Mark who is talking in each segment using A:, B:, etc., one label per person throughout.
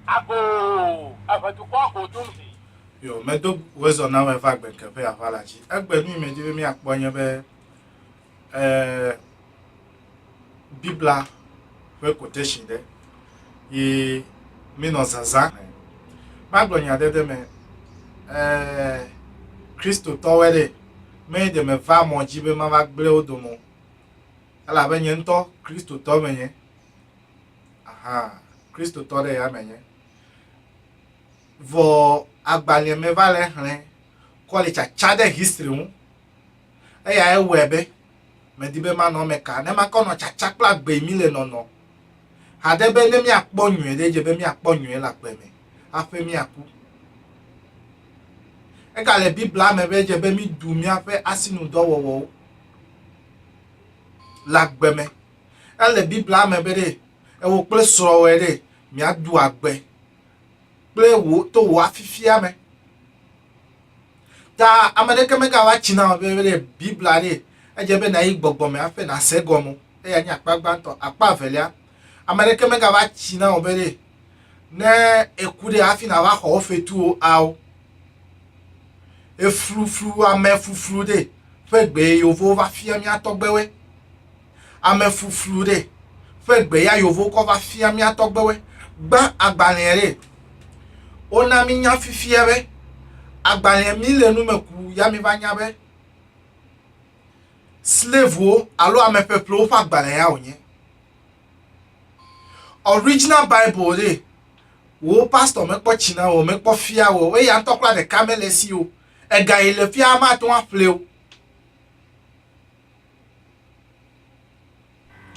A: Agoo, eve dukɔ ago dum hi. Yo, medo
B: wezɔ na wɛ va gbe keƒe aʋa la dzi. Egbe nu yi me di be miakpɔ nye be e, Biblia ƒe quotation ɖe yi minɔ zazã. Magblɔ nya ɖe ɖe me e, Kristo tɔwɛ ɖe me ɖe me va mɔ dzi be mava gble wo dome o. Elabe nye ŋutɔ Kristo tɔ me nye. Ahaa, Kristotɔ ɖe ya menye. Vɔ agbalẽ me va le xlẽ kɔ le tsatsa ɖe history ŋu. Eya ewɔe be medi be manɔ eme ka ne makɔ nɔ tsatsa kple agbe mi le nɔnɔ haɖe be ne miakpɔ nyuie ɖe dze be miakpɔ nyuie le agbe me haƒe miaku. Ega le Biblia me be dze be midu miaƒe asinudɔwɔwɔwo le agbe me. Ele Biblia me be ɖe ewò kple srɔ̃wòe ɖe miado agbe kple wò to wò afifia me. Ta ame ɖeke megava tsi na wò be ɖe Biblia ɖe edze be nàyi gbɔgbɔ me hafi nàse egɔme o. Eya nye akpa gbãtɔ. Akpa evelia, ame ɖeke megava tsi na wò be ɖe ne eku ɖe hafi nàva xɔ wò fetuwo ao. Efluflu amefuflu ɖe ƒe gbe yevowo va fia mía tɔgbewoe. Amefuflu ɖe ƒe gbe ya yevowo kɔ va fia mía tɔgbewoe. Gbã agbalẽa ɖe. Wona mí nya fifia be agbalẽa mí le nu me ku ya mí va nya be slavewo alo ameƒeƒlewo ƒe agbalẽa wònye. Original Bible ɖe, wò pastor mekpɔ tsi na wò, mekpɔ fia wò, eya ŋutɔ kura ɖeka mele esi o. Ega yi le fia mate ŋu aƒle o.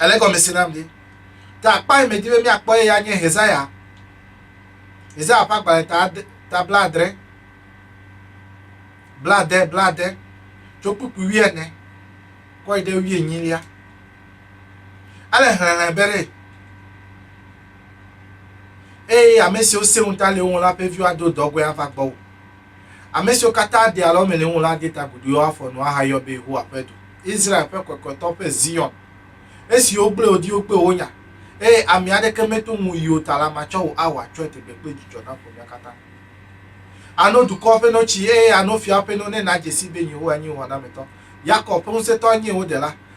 B: Ele gɔme se nam ɖe. Ta akpa yi medi be míakpɔ eya nye Hezaya. Hezaya ƒe agbalẽ ta ade ta bla adre bla ade bla ade tso kpukpui wuiene kɔ yi ɖe wuienyilia. Ele hlɛ̃hlɛ̃ be ɖe eye ame siwo sẽ ŋu ta le wo ŋu la ƒe viwo ado dɔgɔe ava gbɔwò. Ame siwo katã de alɔme le wo ŋu la ade ta guduiwo afɔ nu ahayɔ be Yehowa ƒe du, Israel ƒe Kɔkɔetɔ ƒe Zion. Esi wogblẽ wò diwo kple wò nya, eye ami aɖeke meto ŋuwò yi o ta la, matsɔ wò awɔ atsyɔ̃e tegbeƒe dzidzɔ naƒo mía katã. Àno dukɔwo ƒe notsi, eye àno fiawo ƒe no ne nàdze sii be Yehowa nye wò xɔnametɔ, Yakob ƒe Ŋusẽtɔ nye wò Ɖela,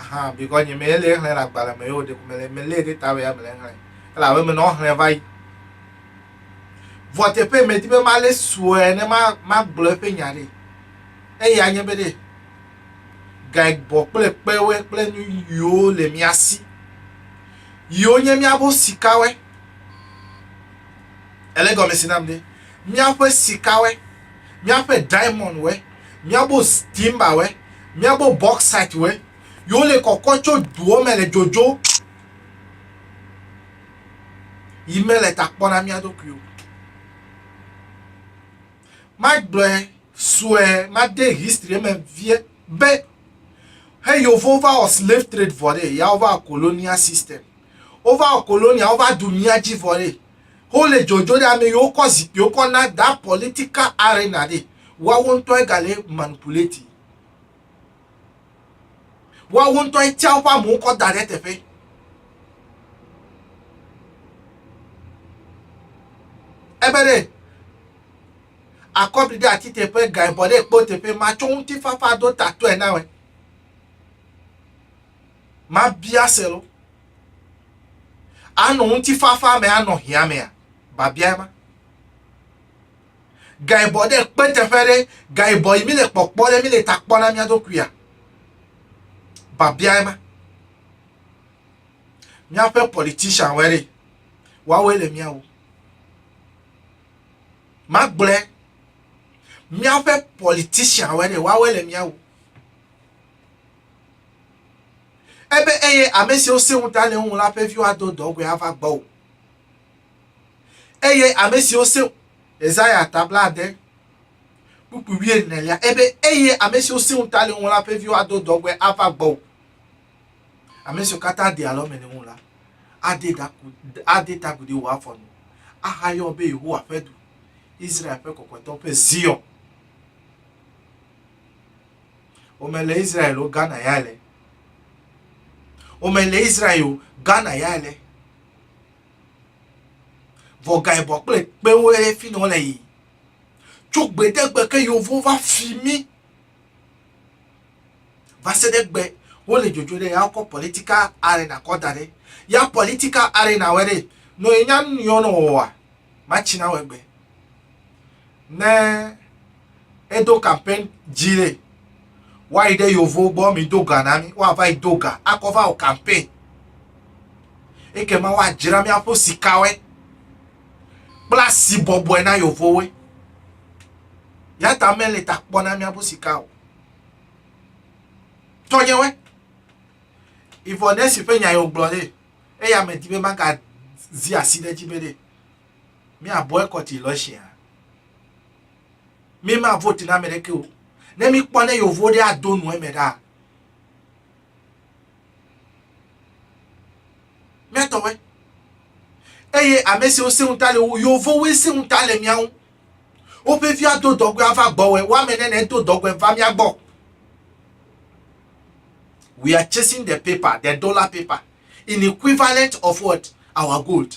B: Ahan, bikɔ nye mɛ lee xlɛ le agbalɛ mɛ yio ɖeko mele mɛ lee ɖe ta wɛa mele xlɛ. Ele abe mɛ nɔ xlɛ vayi. Vɔ teƒe mɛ di be ma le suɛ ne ma ma gblɔ eƒe nya ɖe. Eye anye be ɖe gae bɔ kple kpewɛ kple nu yio le mia si. Yio nye mia bo sikawɛ. Ele gɔmesi nam ɖe. Mia ƒe sikawɛ. míaƒe diamɔndwoe, míaƒe timbawoe, míaƒe bɔksitwoe, yi wole kɔkɔ tso duwo me le dzodzo yi mele ta kpɔ na mía ɖokuiwo. Magblɔe sue, made history me vie be he yewo va wɔ slave trade vɔ ɖe, ya wova wɔ colonial system. Wova wɔ colonia, wova ɖu mía dzi vɔ ɖe. Ho le dzodzo ɖe ame yiwo kɔ zikpuiwo kɔ na that political arena ɖe, woawo ŋutɔe gale manipulate. Woawo ŋutɔe tia woƒe amewo kɔ da ɖe eteƒe. Ebe ɖe akɔbli ɖe ati teƒe, gaibɔ ɖe kpo teƒe, matsɔ ŋutifafa do tatɔe na wɛ. Mabia se lo. Anɔ ŋutifafa me anɔ hiãmea? Biabiae ma. Gaibɔ ɖe kpe teƒe ɖe, gaibɔ yi mi le kpɔkpɔ ɖe mi le ta kpɔ na mía ɖokuia? Biabiae ma. Míaƒe politician wɔe ɖe, woawoe le mía wu. Magblɔe, míaƒe politician wɔe ɖe, woawoe le mía wu. Ebe eye ame siwo se ŋuta le eŋu la ƒe viwo ado dɔgɔe ava gbɔwò. Eye ame siwo se Yesaya ta blaade kpukpui wuienelia, ebe eye ame siwo se ŋuta le eŋu la ƒe viwo ado dɔgɔe ava gbɔwò. Ame siwo katã de alɔme le ŋu la, ade daku ade tagu ɖe wò afɔ nu, ahayɔ be Yehowa ƒe du, Israel ƒe kɔkɔetɔ ƒe Zion. Wome le Israel o, Ghana ya le. Wome le Israel o, Ghana ya le. Vɔ ga ebɔ kple kpewo ye fi nɔ le yi. Tso gbedegbe ke yewo va fi mi. Va se ɖe gbe wole dzodzo ɖe ya kɔ political arena kɔ da ɖe. Ya political arena wɛ ɖe. Nɔ enya nu yɔ nɔ wɔwa. Matsi na wɛ gbe. ne edo campaign dzi ɖe woayi ɖe yovo gbɔ mi do ga na mi woava yi do ga akɔ va wɔ campaign ekema woadzra míaƒe sikawe kple asi bɔbɔe na yovowoe ya ta mele ta kpɔ na míaƒe sika o tɔnyewe ivɔ ne si ƒe nya yewo gblɔ ɖe eya me di be magazi asi ɖe dzi be ɖe Mi a boycott election a? Mi ma vote na meɖeke o. Ne mi kpɔ ne yovo ɖe a do nu eme ɖa. Mi a tɔwɛ. Eye ame siwo se ŋuta le wo, yovo woe se ŋuta le miawo. Woƒe vi a do dɔgɔe a va gbɔ wɛ, wa me ne ne do dɔgɔe va mia gbɔ. We are chasing the paper, the dollar paper, in equivalent of what? Our gold.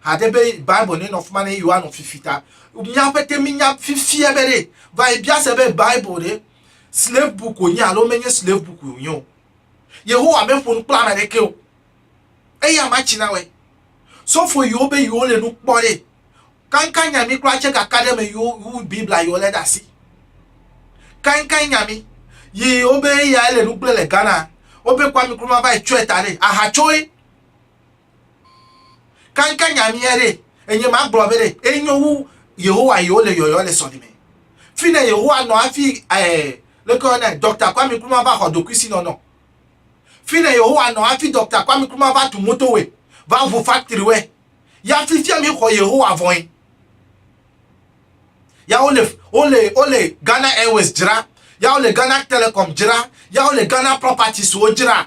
B: Hade be Bible nenɔ fima ne yewo anɔ fifi ta. Mía pete minya fifia be ɖe va yi bia se be Bible ɖe slave book wònye alo menye slave book wònye o. Yehowa meƒo nu kple ame aɖeke o. Eya ma tsi na wɔe. Sɔfo yiwo be yewo le nu kpɔ ɖe kankan nya mi kura tse kaka ɖe me yiwo wu Biblia yiwo le ɖe asi. Kankan nya mi yi wobe eya ele nu gblẽ le Ghana. Wobe Kwame Nkrumah va yi tsɔe ta ɖe ahatsoe. Kanka nya mía ɖe, enye ma gblɔ be ɖe enyo wu Yehowa yewo le yɔyɔ le sɔlime. Fine Yehowa nɔ hafi ɛɛ leke woyɔ nɛ Doctor Kwame Nkrumah va xɔ ɖokuisinɔnɔ. Fine Yehowa nɔ hafi Doctor Kwame Nkrumah va tu motowe, va ŋu factorywe. Ya fifia mi xɔ Yehowa vɔe. Ya wo le wo le wo le Ghana Airways dzra, ya wo le Ghana Telecom dzra, ya wo le Ghana Properties wo dzra.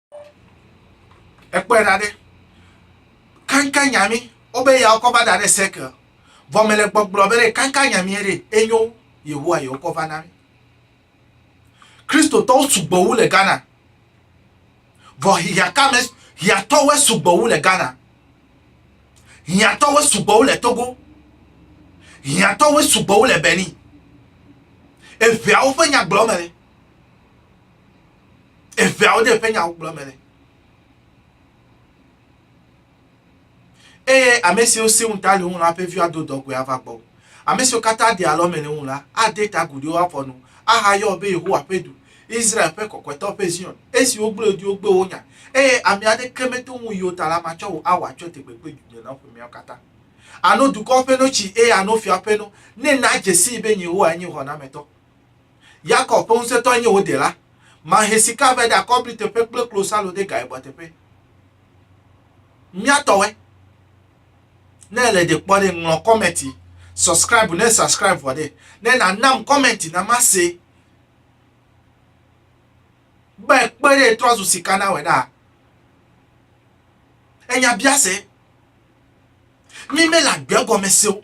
B: Ekpɔe ɖa ɖe, kankan nyami wobe ya wokɔ va da ɖe sɛkel. Vɔ mele gbɔgblɔ be ɖe kankan nyami ɖe enyo Yehowa ye wokɔ va na mi. Kristotɔwo sugbɔ wu le Ghana. Vɔ hiãkame hiãtɔwoe sugbɔ wu le Ghana. Hiãtɔwoe sugbɔ wu le Togo. Hiãtɔwoe sugbɔ wu le Benin. Eveawo ƒe nyagblɔ me. eveawo ɖe ƒe nyawo gblɔ me le. Eye ame siwo si ŋu ta le ŋu la ƒe viwo ado dɔgɔe ava gbɔ. Ame siwo katã de alɔ me le ŋu la ade ta agu ɖe wo afɔ nu ahayɔ be Yehowa ƒe du, Israel ƒe kɔkɔetɔ ƒe Zion, esi wogblɔe ɖi wogbe wo nya, eye ame aɖeke meto ŋu yi o ta la, matsɔ wò awɔ atsyɔ̃ tegbegbe dunya la ƒomeawo katã. Àno dukɔwo ƒe notsi, eye àno fiawo ƒe no, ne nàdze sii be nye Yehowae nye xɔnametɔ. Yakob ƒe ŋusẽtɔe nye wò dela. Mahe sika vɛ ɖe akɔbli teƒe kple klosalo ɖe gaebɔ teƒe. Mía tɔwɔe. Ne èle ɖe kpɔ ɖe, ŋlɔ kɔmɛti. Subscribe ne subscribe vɔ ɖe. Ne nànam kɔmɛti na mase. Be kpe ɖe trɔ zu sika na wɛ ɖaa. Enya biase. Mí mele agbe gɔme se o.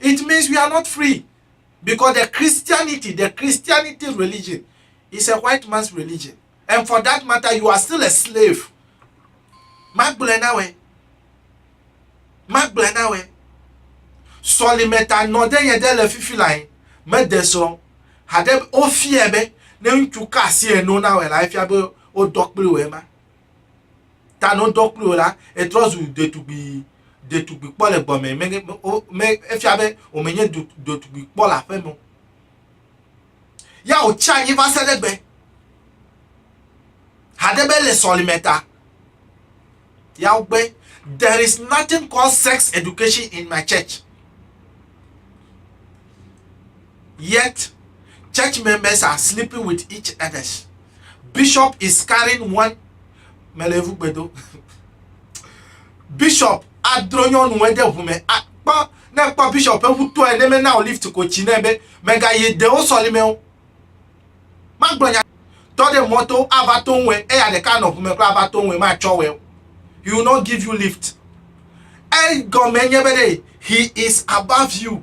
B: It means we are not free because the Christianity, the Christianity religion is a white man's religion. And for that matter, you are still a slave. Magblɛ na wɛ. Magblɛ na wɛ. Sɔlimeta nɔ ɖe yɛ ɖe le fifi la yi. Mede sɔ. Haɖe wofiɛ be ne ŋutsu ka asi eno na wɛ la efia be wodɔ kpli wɛ ma. ta no ŋdɔ kpli o la, etrɔ zu ɖetugbui, ɖetugbui kpɔ le gbɔmɛ, me, me, efia be wòme nye ɖetugbui kpɔ le aƒeme o. Ya wòtsi anyi va se ɖe gbe. Haɖe be le sɔlime ta, ya wogbe, there is nothing called sex education in my church. yet church members are sleeping with each others bishop is carrying one mele evu gbedo bishop adro nyɔnu ede ʋu me akpɔ ne kpɔ bishop eŋu tɔe ne mena o lift ko tsi ne be mega yi dewo sɔlime o magblɔ nya tɔ ɖe mɔto ava to ŋue eya ɖeka nɔ ʋu me kura ava to ŋue matsɔ wɛ o he will not give you lift egɔme nye be ɖe he is above you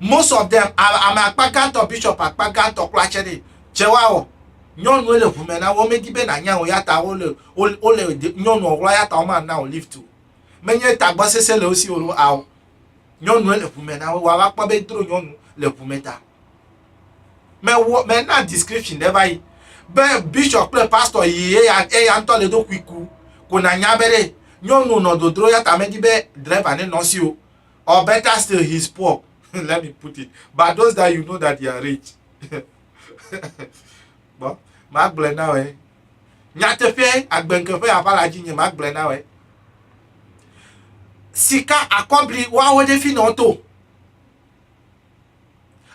B: Most of them, ame akpa gãtɔ, bishop akpa gãtɔ kpla tse ɖe tse woawɔ. Nyɔnue le ʋu me na wo, womedi be nanya o yata wole wole nyɔnua ɣlɔ yata woma na o lift o. Menye tagbɔ sese le wosi o ao. Nyɔnue le ʋu me na wo, woava kpɔ be dro nyɔnu le ʋu me ta. Me wɔ me na description ɖe va yi be bishop kple pastor yi eya eya ŋutɔ le do kuiku ko nanya be ɖe nyɔnu nɔ dodro yata medi be driver ne nɔ si o. Or better still, he's poor. Let me put it. But those that you know that they are rich. Bon, ma gblɔe na wòe. Nyateƒe agbenke ƒe aʋa la dzi nye ma gblɔe na wòe. Sika akɔbli woawo ɖe fi nɔ to.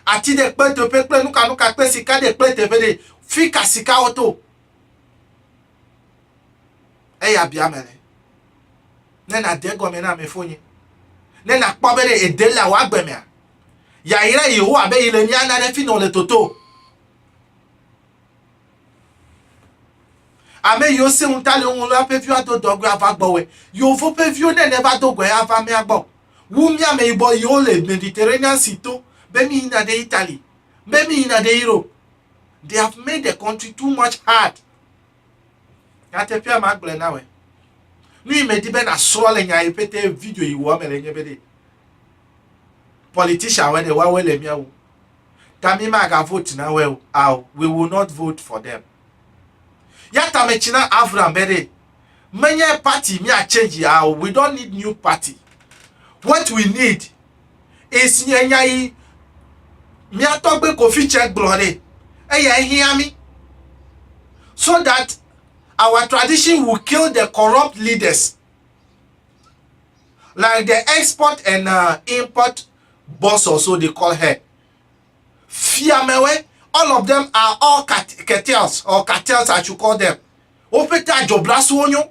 B: Ati ɖe kpe teƒe kple nukanuka kple sika ɖe kple teƒe ɖe fi ka sikawo to. Eya bia ame le. Ne nàde egɔme na ame fonye, ne nàkpɔ be ɖe ède le wò agbe mea, yayra Yehowa be yi le mía na ɖe fi nɔ le toto. Ame yiwo se ŋu ta le woŋu la ƒe viwo ado dɔgɔe ava gbɔwɔe. Yeovo ƒe viwo ne neva do gɔe ava mía gbɔ. Wu mía ameyibɔ yiwo le Mediterranean si to be mí yina ɖe Italy, be mí yina ɖe Europe. They have made the country too much hard Nyateƒea ma gblɔe na wɛ. Nu yi medi be nasrɔ̃ le nya yi pete video yi wɔ me le nye be ɖe politician wɛ ɖe woawoe le mía wu. Ta mi maga vote na wɛ o. Ao, we will not vote for them. Ya ta metsi na Avram be ɖe menye party mía change ao, we don't need new party. What we need Esi nye nya yi mía tɔgbe Kofi tsɛ gblɔ nɛ. Eya ye hiã mí. So that our tradition will kill the corrupt leaders like the export and uh, import boss or so they call her. Fiamewe, all of them are all cartels or cartels I should call them. Woƒe ta dzɔbla suwo nyo.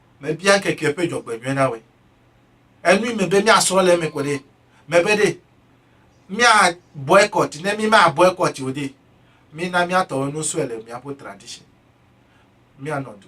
B: mebia ŋkeke ƒe dzɔgbenyuie na wòe. Enui me be míasrɔ̃ le eme ko ɖe. Mebe ɖe, mía boycott ne mi ma boycott o ɖe, mina míatɔ enu sue le míaƒe tradition. Míanɔ du.